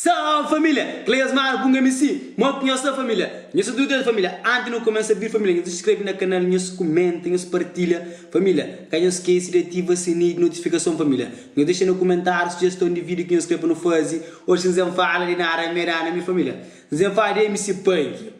Salve família! Cleas Mara punga mi si Mo ki nhos ta família Nhos ta tudu des família Anti nu kumesa bir família Nhos skrebe na kanal Nhos kumenta Nhos partilha família Ka nhos skese di ativa sininhu di notifikason família Nhos dexa na kumentáriu sujeston di vídiu ki nhos krê pa nu faze Oxi N zen fala di nada N meda na mi família N zen fala di MC Punk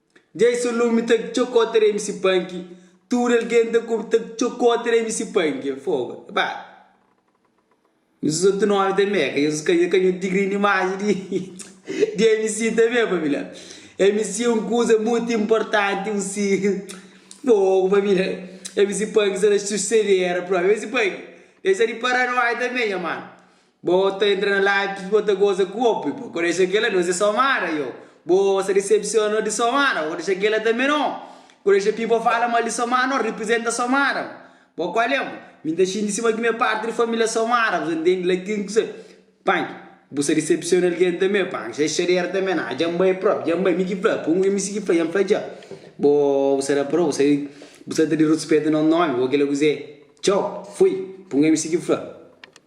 Dja i so lumi ta txokota da mc panki Tudu algen ta kub ta txokota da mc panki Fogo e ba Nhos uza otu nomi ta meka Nhos ka ka nhos digri na imaji di di mc tanbe família Mc é un kuza mutu inportanti un si Fogo família Mc panki sa ta susedera propi Mc panki dexa di para noi tanbe nha mano Bo ta entra na live p'es bo ta goza ku bo p'e pako dexa kela nos e so mara yo bo sa disepsiona nos di so mara bo dexa kela tanbe no ku dexa pi bo fala mal di so mara no riprizenta so mara bo kuale bo mi ta xinti sima ki mi e parti di familia so mara bo sa ntende la kin kusa panki bu sa disepsiona algen tanbe panki sa e xader tanbe na dja nbai prop dja nbai mi ki fla pun mi sigi fla dja nfla dja bo bu sa da pro bu sa bu sa ta di ruspeta nos nomi bo kila kuze txou fui pun mi sigi fla.